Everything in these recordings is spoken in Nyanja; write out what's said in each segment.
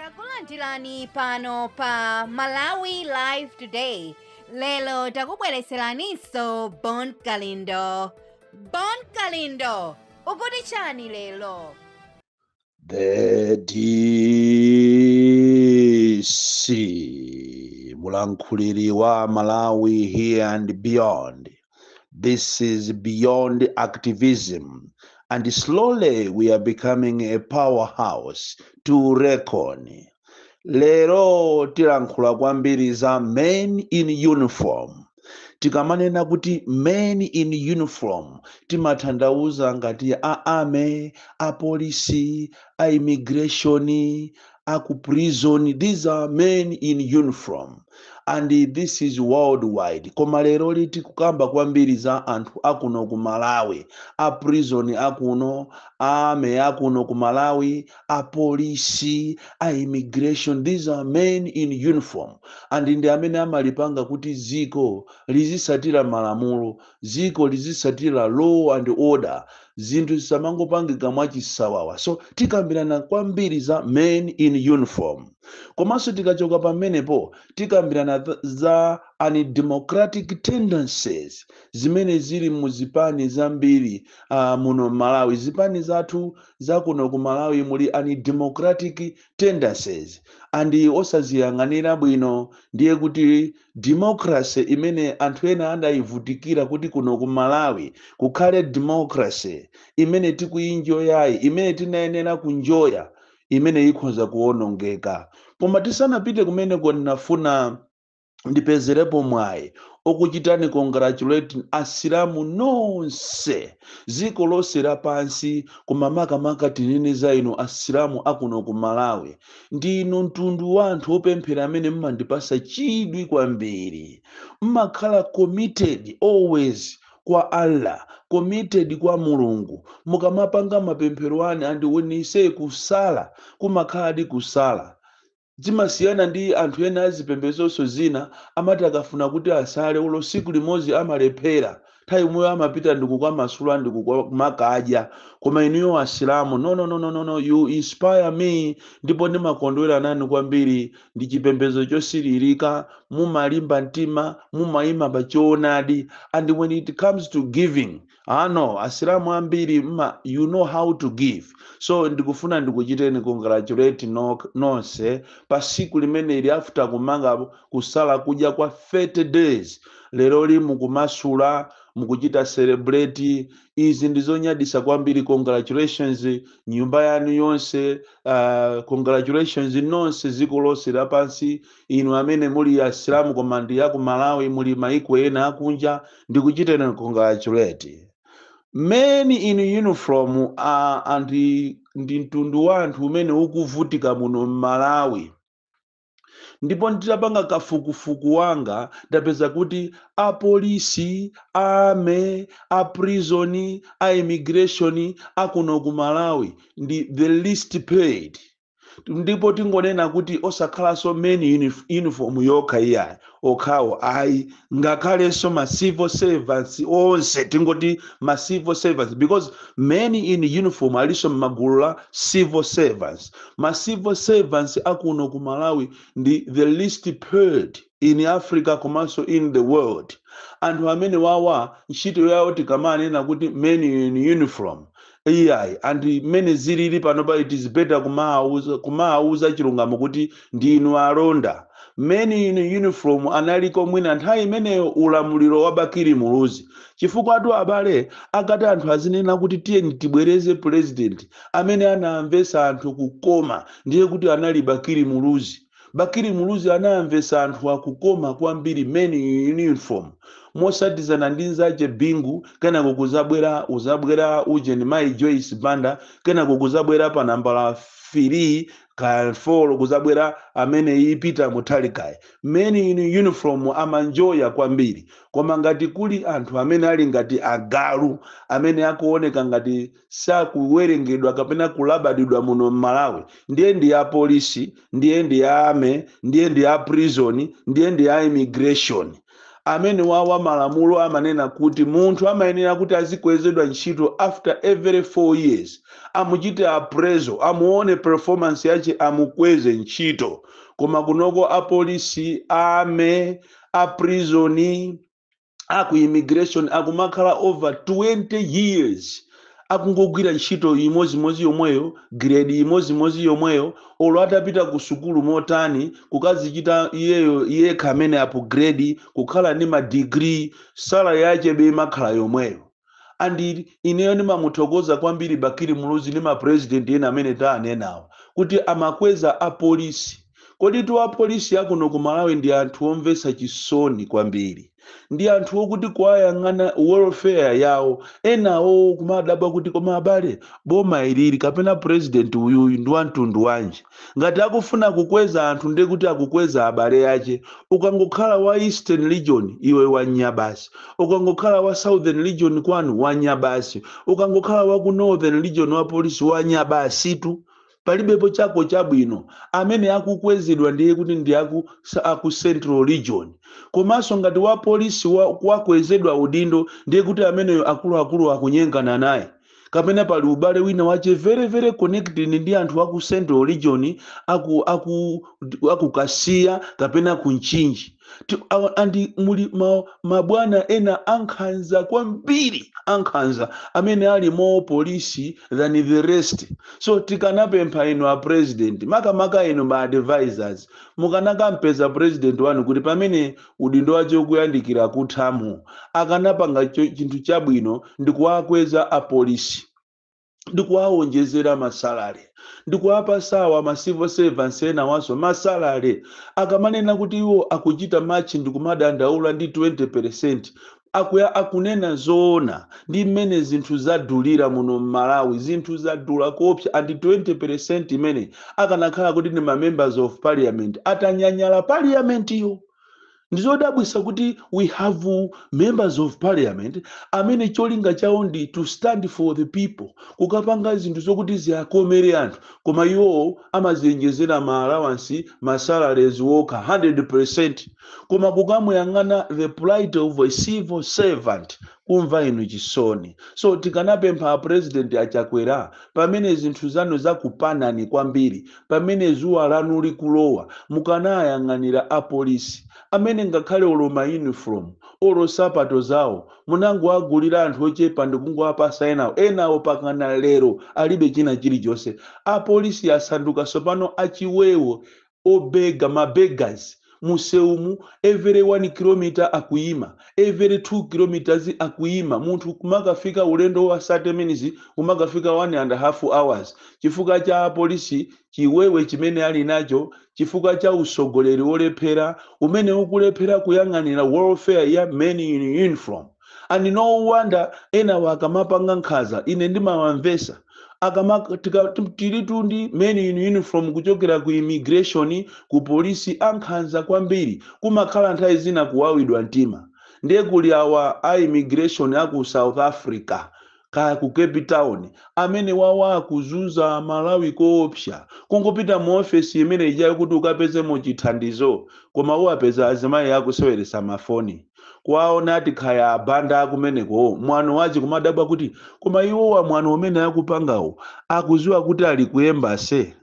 takulandirani pano pa malawi live today lelo takubwereseraninso bon kalindo bon kalindo ukuti chani lelo The DC, Mulankuliri wa Malawi here and beyond. This is beyond activism, and slowly we are becoming a powerhouse to reckon. Lero tilankhula kwambiri za men in uniform. Tikamanena kuti men in uniform timatanthauza ngati a army, a police, a immigration, aku prison these are men in uniform and this is worldwide koma leroli tikukamba kwambiri za anthu akuno ku malawi a prison akuno a army akuno ku malawi a polisi a immigration these are men in uniform and ndi amene amapanga kuti dziko lizisatira malamulo ziko lizisatira law and order zinthu zisamangopangika mwachisawawa so tikambirana kwambiri za men in uniform komanso tikachoka pamenepo tikambirana th- za undemocratic tendencies zimene zili mu zipani zambiri uh, muno malawi zipani zathu zakuno ku malawi muli undemocratic tendencies and osaziyang'anira bwino ndiye kuti democracy imene anthu ena adayivutikira kuti kuno ku malawi kukhale democracy imene tikuyinjoyayi imene tinayenera kunjoya imene ikhoza kuwonongeka koma tisanapite kumeneko ndinafuna ndipezerepo mwayi okuchitani congratulate asilamu nonse ziko lonse lapansi koma makamaka tinene za inu asilamu akuno ku malawi ndi inu mtundu wa anthu opemphera amene mmandipasa chidwi kwambiri mmakhala committed always kwa allah committed kwa mulungu mukamapanga mapemphero anu and when you say kusala kumakhaladi kusala Zimasiyana ndi anthu ena a zipembedzonso zina amati akafuna kuti asale olo siku limozi amalephera nthawi yomweyo amapita ndikukamasula ndikukamakadya koma inuyo asilamu nononononono you inspire me ndipo ndimakondwera nanu kwambiri ndi chipembedzo chosilirika mumalimba mtima mumayima pa choonadi and when it comes to giving ah no asilamu ambiri mma you know how to give so ndikufuna ndikuchiteni congratulate no, nonse pa siku limeneli after kumanga kusala kudya kwa 30 days leroli mukumasula mukuchita celebrate izi ndizonyadisa kwambiri congratulations nyumba yanu yonse uh, congratulations nonse ziko lonse lapansi inu amene muli asilamu koma ndi aku malawi muli maiko ena akunja ndikuchiteni congratulate men in uniform uh, and ndi mtundu wa anthu umene ukuvutika muno mmalawi ndipo nditapanga kafukufuku wanga ndapeza kuti apolisi a ame aprisoni a immigration akuno ku malawi ndi the least paid ndipo tingonena kuti osakhalanso men unif- uniform yokha iyayi okhawo ayi ngakhalenso ma civil servants onse tingoti ma civil servants because men in uniform alinso mmagulu la civil servants ma civil servants akuno ku malawi ndi the least paid in africa komanso in the world anthu amene awawa ntchito yawo tikamanena kuti men in uniform iyayi and mmene zilili panopa it is better kumawauza kumawauza chilungamo kuti ndi inu alonda men in uniform analiko mwina nthawi imeneyo ulamuliro wa bakili muluzi chifukwa atu a Bale akati anthu azinena kuti tiyeni tibwereze president amene anamvetsa anthu kukoma ndiye kuti anali bakili muluzi Bakili Muluzi anawamvesa anthuwa kukoma kwambiri men in uniform mosatizana ndi nzache Bingu kenako kuzabwera kuzabwera ujeni mayi Joyce Banda kenako kuzabwera pa nambala filii kaya folo kuzabwera ameneyi Peter Mutharikayi men in uniform amaenjoya kwambiri koma ngati kuli anthu amene ali ngati agalu amene akuoneka ngati sakuwerengedwa kapena kulabadidwa muno m'malawi ndiye ndi ya polisi ndiye ndi ya ame ndiye ndi ya prison ndiye ndi ya immigration amene awawa malamulo amanena kuti munthu amayenera kuti azikwezedwa ntchito after every 4 years amuchite appraisal amuone performance yache amukweze ntchito koma kunoko apolisi ame aprisoni a ku immigration akumakhala over 20 years akungogwira ntchito imodzimodzi yomweyo giredi imodzimodzi yomweyo olo atapita ku sukulu motani kukazichita iyeyo yekha amene apugiredi kukhala ndi madigiri salale yache be imakhala yomweyo and ineyo ndimamuthokoza kwambiri bakili muluzi ndi mapresident ena amene taanenawa kuti amakweza apolisi koditu apolisi akuno ku malawi ndi anthu omvetsa chisoni kwambiri ndi anthu okuti kuwayang'ana welfare yawo enawo kumadabwa kuti koma abale boma ilili kapena president uyuyu ndi wamtundu wanji Ngati akufuna kukweza anthu nde kuti akukweza abale ache. Ukangokhala wa eastern region iwe wanya basi. Ukangokhala wa southern region kwanu wanya basi. Ukangokhala wa ku northern region wa police wanya basitu. Palibepo chako chabwino. Amene akukwezedwa ndiye kuti ndi aku aku central region. Komanso ngati wa police wamkazi wakwezedwa udindo ndiye kuti ameneyo akuluakulu akunyengana naye. kapena pali ubale wina wache very very connected ndi anthu aku central region aku aku aku kasiya kapena ku mchinji Ti- awa- andi muli ma- mabwana ena ankhanza kwambiri ankhanza amene ali more polisi than the rest so tikanapempha inu a president makamaka inu ma advisors mukanakampeza president wanu kuti pamene udindo wace ukuyandikira kutha mu, akanapanga chi- chinthu chabwino ndi kuwakweza a police ndi kuwawonjezera ma salary ndi kuwapasawa ma civil servants enawanso ma salary akamanena kuti iwo akuchita march ndi kumadandaula ndi 20% akujayi akunena zoona ndi mmene zinthu zadulira muno mmalawi zinthu zadula koopsa and 20% imene akanakhala kuti ndi ma members of parliament atanyanyala parliament yo ndizodabwisa kuti we have members of parliament amene cholinga chawo ndi to stand for the people kukapanga zinthu zokuti ziakomere anthu koma iwowo amaziyenjezera ma allowance ma salaries wokha 100% koma kukamuyang'ana the plight of a civil servant kumva inu chisoni so tikanawapempha apresident achakwera pamene zinthu zanu zakupanani kwambiri pamene zuwa lanu likulowa mukanayang'anira apolisi amene ngakhale olo ma uniform olo sapato zawo munangowagulira anthu ochepa ndikungowapasa enawo enawo pakana lero alibe china chilichonse apolisi asanduka sopano achiwewo obega ma beggars musewumu every 1 kilometer akuyima every 2 kilometers akuyima munthu kumakafika ulendo wa 30 minutes kumakafika 1 and half hours chifukwa cha apolisi chiwewe chimene ali nacho chifukwa cha usogoleri wolephera umene ukulephera kuyang'anira welfare ya men in uniform and no wonder enawa akamapanga nkhanza ine ndimawamvesa akama tika- tim- tilitu ndi men in uniform kuchokera ku immigration ku polisi ankhanza kwambiri kumakhala nthawi zina kuwawidwa mtima ndiye kuli awa a immigration aku south africa kaya ku cape town amene wawa akuzunza amalawi koopsa kungopita mu ofesi imene ijayo kuti ukapezemo chithandizo koma uwapeza azimayi akuseweresa mafoni kuwaona ati khaya abanda akumenekowo mwano wache kumadabwa kuti koma iwowa mwano umene akupangawo akuziwa kuti ali ku embassy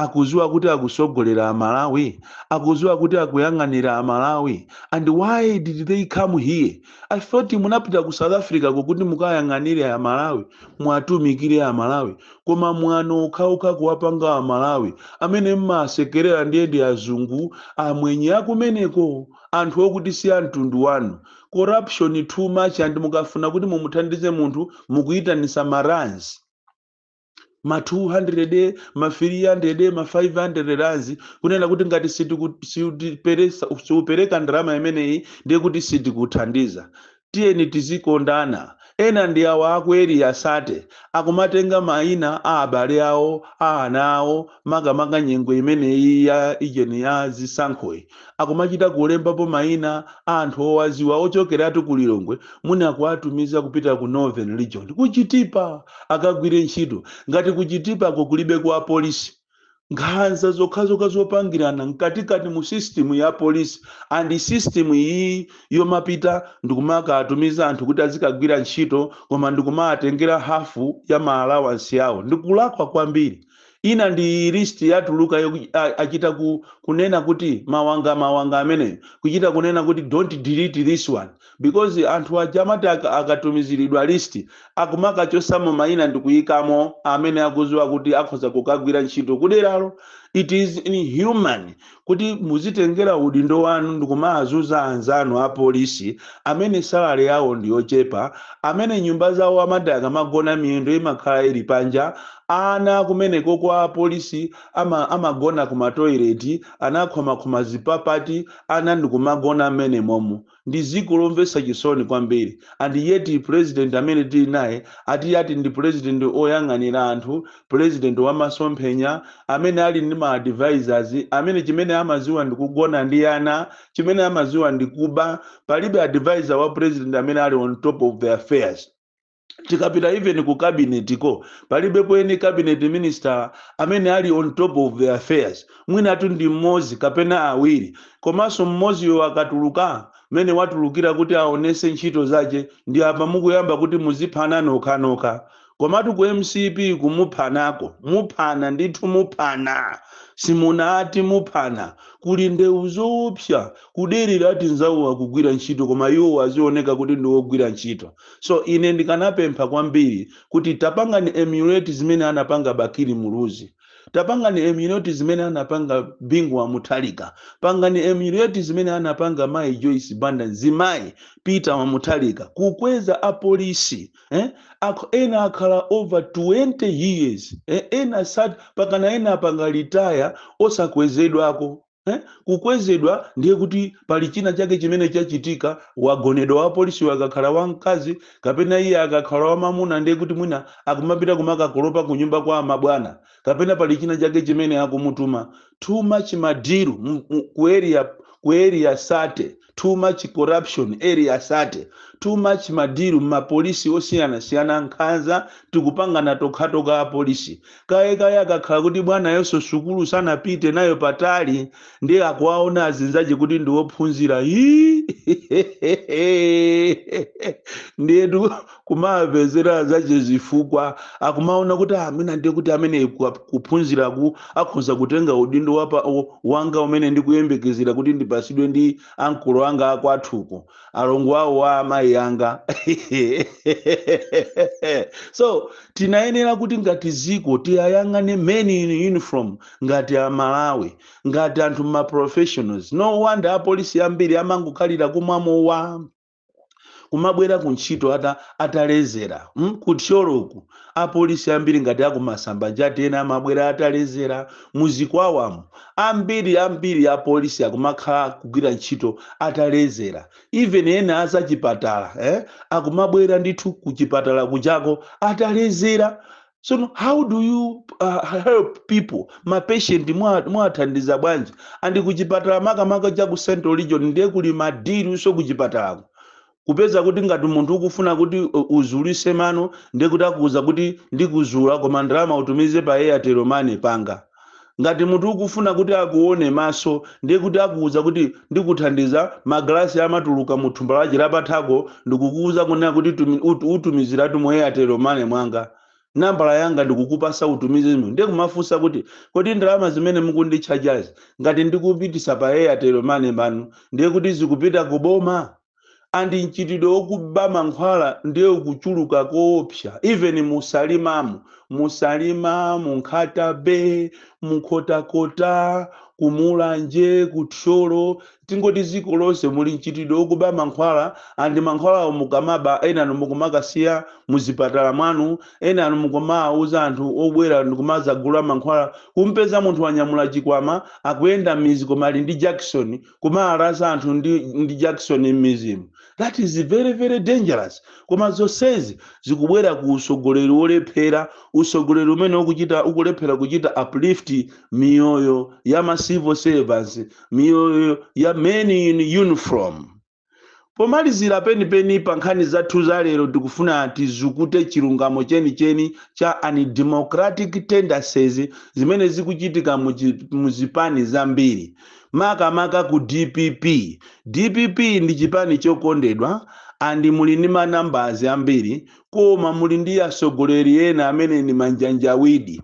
akuziwa kuti akusogolera amalawi akuziwa kuti akuyang'anira amalawi and why did they come here i thought munapita ku south africa ko kuti mukayang'anire amalawi mwatumikire amalawi koma mwano okhaokha kuwapanga amalawi amene mmasekerera ndiye ndi azungu amwenye akumeneko anthu okuti si amtundu wanu corruption too much and mukafuna kuti mumuthandize munthu mukuyitanisa maranzi ma 200 ma 300 ma 500 rands kunena kuti ngati sitiku- sitiperesa- siupereka ndalama imeneyi ndiye kuti sitikuthandiza tiyeni tizikondana ena ndi awa aku Area 30 akumatenga maina a abale awo a ana awo makamaka nyengo imeneyi ya ijeni ya zisankhoyi akumachita kulembapo maina a anthu owaziwa ochokeratu ku lilongwe mwina kuwatumiza kupita ku northern region ku chitipa akagwire ntchito ngati ku chitipako kulibe kwa polisi nkhanza zokhazokha zopangirana mkatikati mu system ya polisi and system iyi yomapita ndikumakatumiza anthu kuti azikagwira ntchito koma ndikumaatengera hafu ya ma allowance awo ndikulakwa kwambiri Ina ndi iyi list yatulukayo a, achita ku, kunena kuti mawanga mawanga ameneyo kuchita kunena kuti don't delete this one because anthu aja amati aka, akatumizilidwa list akumakachosamo maina ndikuyikamo amene akuziwa kuti akhoza kukagwira ntchito kuderalo it is inhuman kuti muzitengera udindo wanu ndikumazuza anzanu apolisi amene salary yawo ndiyochepa, amene nyumba zawo amati akamagona miyendo imakhala ili panja, ana akumeneko kwa polisi ama amagona ku ma toilet anakhomakhoma zipapati ana ndikumagona mmenemomo. Ndi ziko lomvesa chisoni kwambiri and yet president amene tili naye ati ati ndi president oyang'anira anthu, president wa masomphenya, amene ali ndi ma advisors amene chimene amaziwa ndi kugona ndi ana, chimene amaziwa ndi kuba, palibe advisor wa president amene ali on top of the affairs. tikapita even ku cabinet ko palibepo any cabinet minister amene ali on top of the affairs mwinatu ndi mmozi kapena awiri komanso mmodziyo akatuluka mmene watulukira kuti aonese ntchito zache ndi apa mukuyamba kuti muziphana nokhanokha komatu ku mcp kumuphanako muphana ndithu muphana simunati muphana kuli ndewu zoopsa kuderera ati nzawo akugwira ntchito koma iwowo azioneka kuti ndi ogwira ntchito so ine ndikanapempha kwambiri kuti tapangani emulate zimene anapanga bakili muluzi tapangani emulate zimene anapanga bingu wa Mutharika pangani emulate zimene anapanga mayi joyce banda nzimayi peter wa Mutharika kukweza apolisi eh? Akh- ena akhala over 20 years eh? ena sat pakana ena apanga retire osakwezedwako Eh? kukwezedwa ndiye kuti pali china chake chimene chachitika wagonedwa wapolisiyo akakhala wamkazi kapena iye akakhala wamamuna ndiye kuti mwina akumapita kumakakolopa ku nyumba kwa amabwana kapena pali china chake chimene akumutuma too much madiru mu- mu- ku area ku area 30 too much corruption area 30 too much madiru mmapolisi osiyanasiyana nkhanza tikupangana tokhatokha apolisi kayekaye akakhala kuti bwanayonso sukulu sanapite nayo patali ndiye akuwaona azinzache kuti ndiwophunzira ndiyetu kumawapezera zache zifukwa akumaona kuti "Ah, mwina ndiye kuti amene ku- kuphunziraku akhoza kutenga udindo wapa, o- wanga umene ndikuyembekezera kuti ndipasidwe ndi ankolo anga akwathuko alongo awo a amayi anga so tinayenera kuti ngati ziko tiyayang'ane men in uniform ngati amalawi ngati anthu ma professionals no wonder apolisi ambiri amangokhalira kumwa mowa kumabwera ku ntchito ata atalezera mm? ku thyoloku apolisi ambiri ngati akumasamba njati ena amabwera atalezera muzikwawamo ambiri ambiri apolisi akumakhala kugwira ntchito atalezera even ena azachipatala eh? akumabwera ndithu kuchipatala kuchako atalezera so how do you uh, help people mapatient mwa- mwathandiza bwanji andi kuchipatala makamaka cha ku central region ndiye kuli madiru so kuchipatalako kupeza kuti ngati munthu ukufuna kuti u- uzulise mano ndiye kuti akuuza kuti ndikuzula koma ndalama utumize pa airtel money panga ngati munthu ukufuna kuti akuone maso ndiye kuti akuuza kuti ndikuthandiza magalasi amatuluka mu thumba lache lapathako ndikukuuza kunena kuti tumi- ut- utumiziratu mu airtel money mwanga nambala yanga ndikukupasa utumize mu ndiye kumafunsa kuti kodi ndalama zimene mukunditchajazi ngati ndikupitisa pa airtel money manu ndiye kuti zikupita ku boma and mchitidwe okuba mankhwala ndiye ukuchuluka koopsa even mu salimamu mu salima mu nkhata bay mu nkhotakota ku mulanje ku thyolo tingoti dziko lonse muli mchitidwe okuba mankhwala and mankhwalawo mukamaba enanu mukumakasiya muzipatala mwanu enanu mukumawuza anthu obwera ndikumadzagula mankhwala kumpeza munthu wanyamula chikwama akuyenda mizi koma ali ndi jekeseni kumalasa anthu ndi, ndi jakisoni m'mizimu that is very very dangerous koma zonsezi zikubwera ku usogoleri wolephera usogoleri umene ukuchita ukulephera kuchita uplift miyoyo ya ma civil servants miyoyo ya men in uniform Pomalizira penipeni pa nkhani zathu za lero tikufuna tizukute chilungamo chenicheni cha undemocratic tendencies zimene zikuchitika mu chi- mu zipani zambiri makamaka ku dpp. Dpp ndi chipani chokondedwa and muli ndi manambazi ambiri koma muli ndi atsogoleri ena amene ndi manjanjawidi.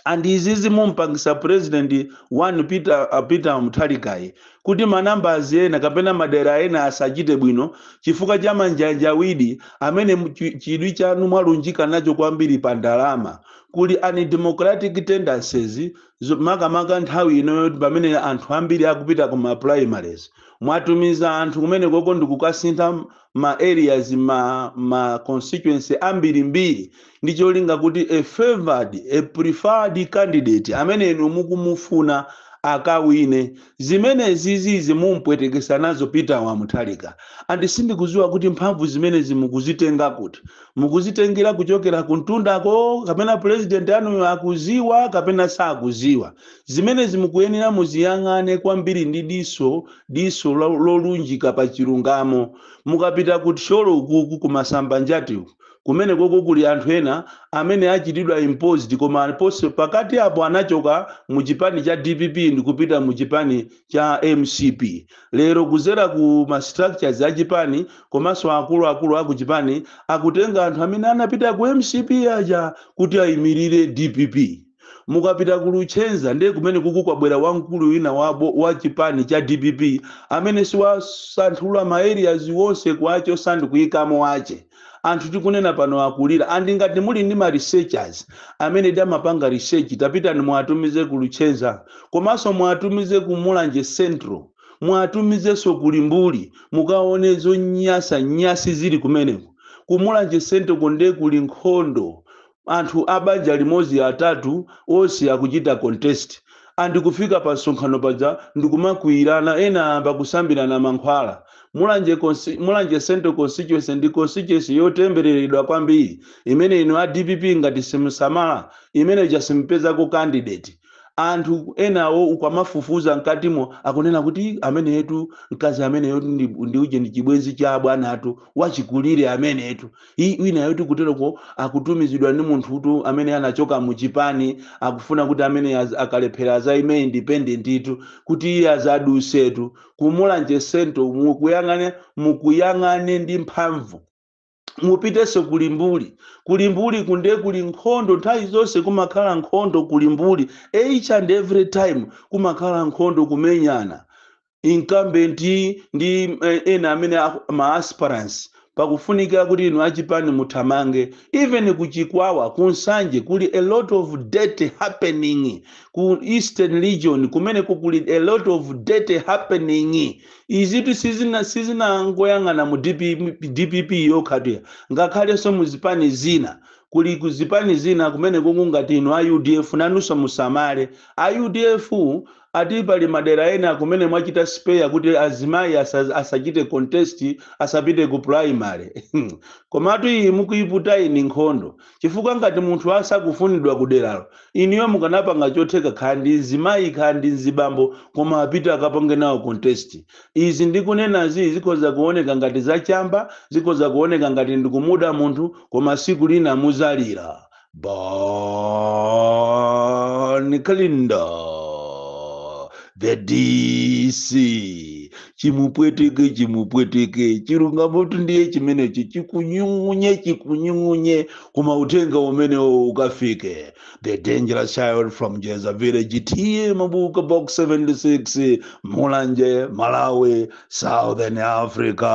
and izizi mumpangisa president wanu peter, uh, peter mutharikayi kuti manambazi ena kapena madera ena asachite bwino chifukwa cha manjanjawidi amene mu- chi- chidwi chanu mwalunjika nacho kwambiri pa ndalama kuli undemocratic tendencies zo- makamaka nthawi ino yoti pamene anthu ambiri akupita ku ma primaries mwatumiza anthu kumenekoko ndikukasintha ma areas ma ma constituency ambirimbiri ndi cholinga kuti a favored a preferred candidate amene inu mukumufuna akawine zimenezi zizi mumpwetekesa nazo peter wa mutharika andi sindikuziwa kuti mphamvu zimenezi mukuzitenga kuti mukuzitengera kuchokera kuntundako kapena president anuyo akuziwa kapena sakuziwa Zimenezi mukuyenera muziyang'ane kwambiri ndi diso, diso lo, lolunjika pa chilungamo. Mukapita ku Thyolo ukuku ku Masambanjati uku, kumenekoko kuli anthu ena amene achitidwa imposed koma ponse, pakati apo anachoka mu chipani cha dpp ndikupita mu chipani cha mcp. Lero kuzera ku ma structures a chipani komanso akulu akulu aku chipani akutenga anthu amene anapita ku mcp aja kuti aimilire dpp. mukapita ku luchenza ndiye kumene kuku kwabwera wamkulu wina wabo wa chipani cha dpp amene siwasanthula ma areas wonse kuwachosa ndi kuyikamo wache anthu tikunena pano akulira and ngati muli ndi ma researchers amenedi amapanga research tapitani muwatumize ku luchenza komanso muwatumize ku mulanje central muwatumizenso ku limbuli mukaone zonyasa nyasi zili kumeneko ku mulanje central ko nde kuli nkhondo anthu a banja limodzi atatu onse akuchita contest and kufika pa msonkhano paja ndikumakwiyirana ena ayamba kusambirana mankhwala mulanje, consti- mulanje central constituency ndi constituency yotembereredwa kwambiri imene inu a dpp ngati simusamala imene ija simpezako candidate anthu enawo ukamafufuza mkatimo akunena kuti ameneyetu mkazi ameneyotu ndi, ndi uje ndi chibwenzi cha abwana athu wachikulire ameneyetu I, wina yoti kuteroko akutumizidwa ndi munthutu amene anachoka mu chipani akufuna kuti amene az, akalephera azaime independentitu kuti iye azadusetu ku Mulanje central mukuyang'ane mukuyang'ane ndi mphamvu mupitenso ku limbuli ku limbuli kunde kuli nkhondo nthawi zonse kumakhala nkhondo ku limbuli each and every time kumakhala nkhondo kumenyana incumbent ndi eh, ena amene aku- ma aspirants pakufunika kuti inu achipani muthamange even ku chikwawa ku nsanje kuli a lot of dirt happening ku eastern region kumene kuli a lot of dirt happening izitu sizina sizinangoyang'ana mu dpp, dpp yokhatu iyayi ngakhalenso mu zipani zina kuli ku zipani zina kumene ngati inu a udf nanunso musamale a udf ati pali madera ena kumene mwachita spare kuti azimayi asa, asachite contest asapite ku primary komatu iyi mukuiputa eni nkhondo chifukwa ngati munthu asakufunidwa ku deralo inuyo mukanapanga chotheka kaya ndi mzimayi kaya ndi mzibambo koma apite akapange nawo contest izi ndikunenazi zikhoza kuoneka ngati zachamba zikhoza kuoneka ngati ndikumuda munthu koma siku lina muzalira Bon Kalindo, the DC, chimupweteke chimupweteke chilungamo tu ndiye chimenecho chikunyung'unye chikunyung'unye koma uthenga umenewo ukafike the dangerous child from jeza village TA mabuka box 76 mulanje malawi southern africa